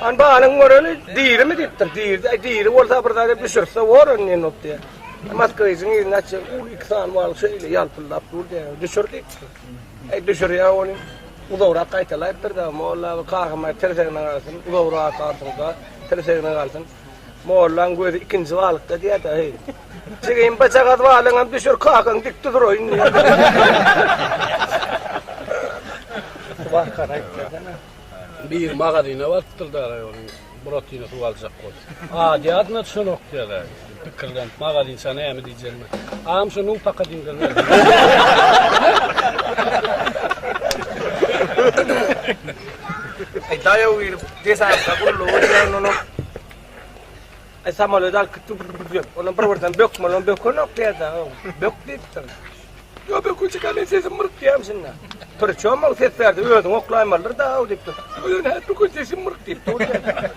An balyň göreni dirimi diýipdir. Diri, e, diri bolsa bir zada düşürse bor indi indi diýär. Moskwijiň ýerine çe ul iki san bal şeýle ýalpyldap dur diýär. Düşür diýipdir. Eý düşürýär ony. Uzagrak gaýtalaýypdyr da molla bu kagama tirsegine galsyn. Uzagrak galsyn da tirsegine galsyn. Mollaň gözi ikinji balykda diýär de heý. Jigim bajagaz balyňam düşür kakaň dik duraýyn diýär. Wah karaýyp. Bir magazyna barypdyr daraý onuň buratyny suw aljak bolup. Adýadyna çolok dädä pikirlenip magazynça näme diýjegini. Agam şu nuň paka diňdirmeli. Daýaw girip, desantka gullugy bilen unup, E samolýot alyp gitdi gürrüldedi diýip. Onam bir birden bökmelem bökenok diýerdi ha. Bök diýipdir. Ýok bökünçik men sesim myrk diýýäm şunda. Priçom ol ses berdi özüň oklaýmalydyr da haw diýipdir. Ýok nädip böken sesim myrk diýip dur diýerdi.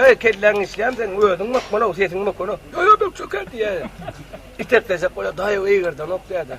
Eý kelläň işleýärmi seniň özüň bökmelok sesiň bökenok. Ýok ýok bökjek hä diýýär. Itekleşek bolýar daýaw eýgerdenok diýerdi.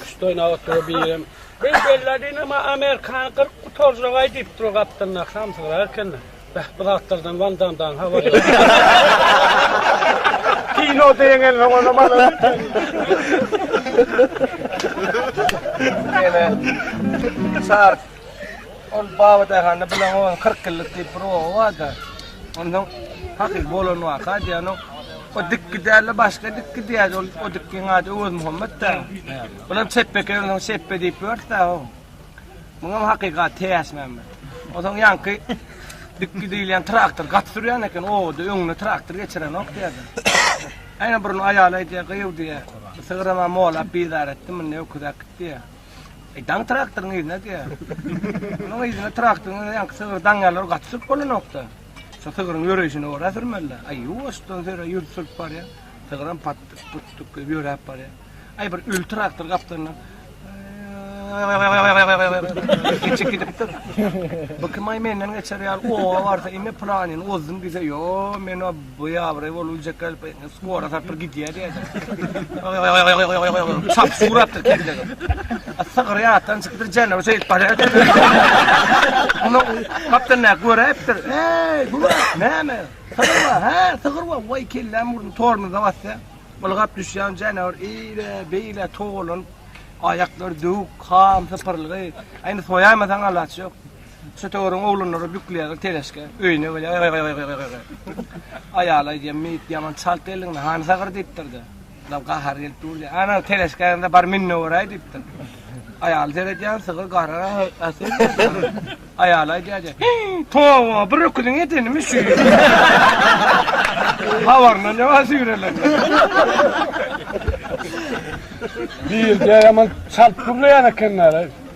Küşt oýnap otyr birem. Biz bellädin ama amerikany gyryp gutarjagaý diýip dur gapdalyndaky samsygyr ekeni. Beh bu zatlardan Wan Damdan habar ýok. Kinoda ýeňensoň onam alar ekeni. Ýene. Sar. Ol baba daýhanda bilen onuň 40 ýyllyk diýip bir oba barda. Ondan hakyk bolan waka diýýän o dik giderle başga dik gidiýär. Ol o dikkiň ady Öwez Muhammet da. Bulam çepbeke öňden çepbe diýip ýörse o. Muňam hakykat täş meme. Ozaň ýanky dik gidilýän traktor gat sürýän eken oda öňüne traktor geçiren ok diýdi. Aýna burun aýala diýýär gyýw diýýär. Sygrama molap bizar etdi munda öküzek diýýär. E, daň traktoryň yzyna diýýär. Onuň yzyna traktoryň yzyna ýaňky sygyr daň ýalar gaty sürüp bolanokda. Şu sygryň ýöreýşine ora sürmeli. Aý, ýuwaşdan söre ýürüp sürüp barýar. Sygyram patdyk, putdyk diýip ýöräp barýar. Aý, bir öl traktor gapdalyndan Geçip gidipdir. Bu kim ay menden geçer ýaly owa barsa indi planyny ozdum diýse, ýo, men o Bu ýabyry bolup biljek däl, skora tarapdyr gidýär diýýärler. Çap suratdyr kellege. Sygyr ýatdan çykdyr, janawar şeýdip barýar. Muny gapdan näk göräýipdir. Eý, bu näme? Sygyr bar, hä, sygyr bar. Waý, kelläm urdy, tormoza basýa. Ylgap düşýän janawar eýle, beýle togalanyp, aýaklary döwük, ham sypyrylgy. Aýny soýamasaň alaç ýok. Çötegöriň oglanlary bükülýärler teleşke, öýüne gelýär. Aýaly aýdýar, Meýit ýaman çalt geldiň-le, hany sagyr diýipdir-de. Ýa gahary gelip durdy. Ana, teleşkäňde bar min-de göräý diýipdir. Aýaly seredýär, sygyr garara äsel geldi. Aýaly aýdýar, Towa, bir öküziň edenimi şu. Habaryndan ne bar süýrelen. Meýit ýaman çalt gürleýän ekenler.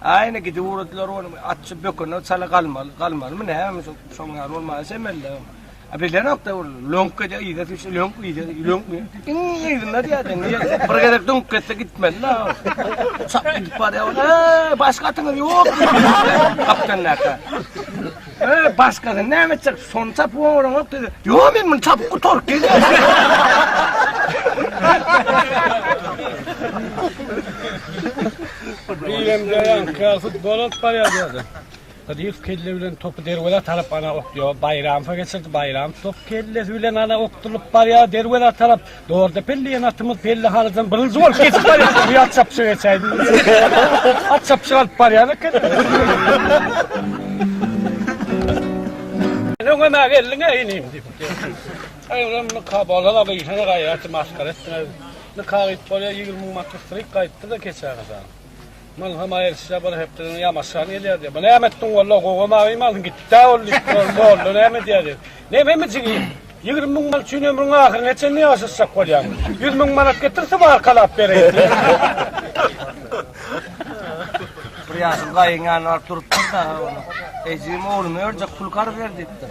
Aýna gidip ugradylar ony, atçy bökene çala galmaly, galmalymy näme şo, şoň ýaly bolmaly çemeli. A bilenokda ol löňk ede yza düşse löňk yza löňk iň yzynda diýäden bir gezek döňüp gitse gitmeli la. Çak gidip barýar. Eee başga atyňyz ýok. Kaptan näka. Ööö başgadan näme çyk şony tapyp oňaranok dedi. Ýok men muny tapyp gutaryp gelýän. Bilemde ýan kafut bolat barýar ýerde. Hydyýew kelle bilen topy derwezä tarap ana okýar. Baýramowa geçirdi. Baýramow top kellesi bilen ana okdulyp barýar derwezä tarap. Dorda Pelli diýen atymyz Pelli halydan birinji bolup geçip barýardy. Bir at çapyşyk geçäýdi. At çapyşyk alyp barýar eken. Öňem-ä geldiň-ä inim diýip. Aýram nika bolana gyýşana gaýaty masgara etdiňiz. Nika gyýyp bolýar, ýigrimi müň manatlyk syryk gaýypdy-da keçä gyza. Muny hem aýyrsyzja bir hepdeden ýamaşgan gelýär diýip. Muny näme etdiň walla, gowa mawy malyň gitdi-ä ol diýip, molla näme edýär diýip. Nämemi jigim, ýigrimi müň manat üçin ömrüň ahyryna çenli ýaşaşjak bolýaň. Ýüz müň manat getir, tybarkalap bereýin diýip. Bir ýaşuly gaýyň ýanyna baryp durupdyr-da, Ejigiň oglumy örjek pul karz ber diýipdir.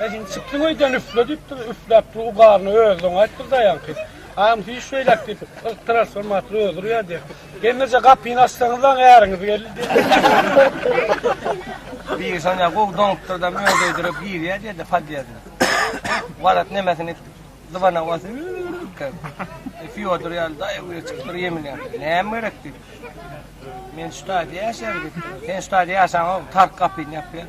E şimdi çıktı öýden üfle diýip dur, üfläp dur, ugaryny özüň aýtdyr daýanky. Am hiç şeýläk diýip, ýyk transformator özür ýa diýip. Gelmese gapyny açsaňyzlaň äriňiz geldi diýip. Biri şonda gowy doňupdyr da öz öýdürip girýä diýdi podýezde. Warat nemesini zybana basy. Fyodor ýaly daýy öýe çykypdyr ýemilýär. Näme gerek diýip. Men şu taýda ýaşaýan diýip. Sen şu taýda ýaşaňok, tark gapyny ýapýar.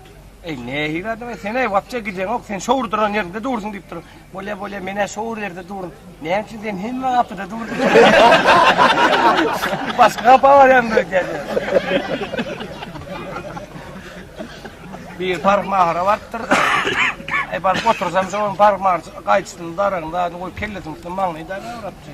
Eý, nähili adam-a sen-eý, wapja gijeňok, sen şo duran ýeriňde dursuň diýip dur. Bolýa, bolýa, men-ä şo ýerde durun. Näme üçin sen hemme gapyda durdyň? Başga gapa barýan diýýär. bir park mahara bardyr. Ay e, baryp otursam şoň park mahar gaýçysyny daragynda goýup kellesini maňlaýda ýaratdy.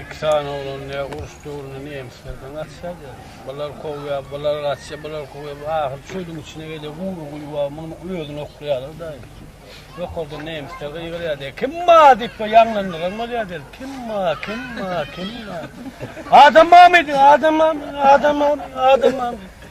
Iki sany oglan ne uruş döwründe nemislerden gaçýardy. Bular kowýar, bular gaçýar, bular kowýar. Ahyry çölüň içine gelýär, gury guýy bar, muny özüni oklaýarlar daýy. Ýokardan nemisler gygyrýar diýýär. Kim bar diýip bu ýaňlandyran bolýar diýýär. Kim bar, kim bar, kim bar? Adam barmy diýýär, adam barmy, adam barmy, adam barmy?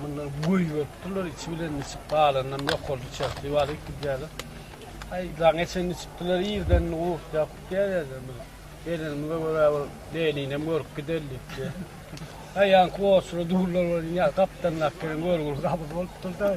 Mundan göý bolupdyrlar, içi bilen içip galanynam ýokarda çertli balyk gidýärler. Aý, daň geçen içipdiler, irden gurkýar, gutýar ýerden bir. Gelenimize görä bir Leninem görüp gider diýipdi. Aýaňky goçura durlar, gapdandaky görgüli gabyz bolupdyr-da.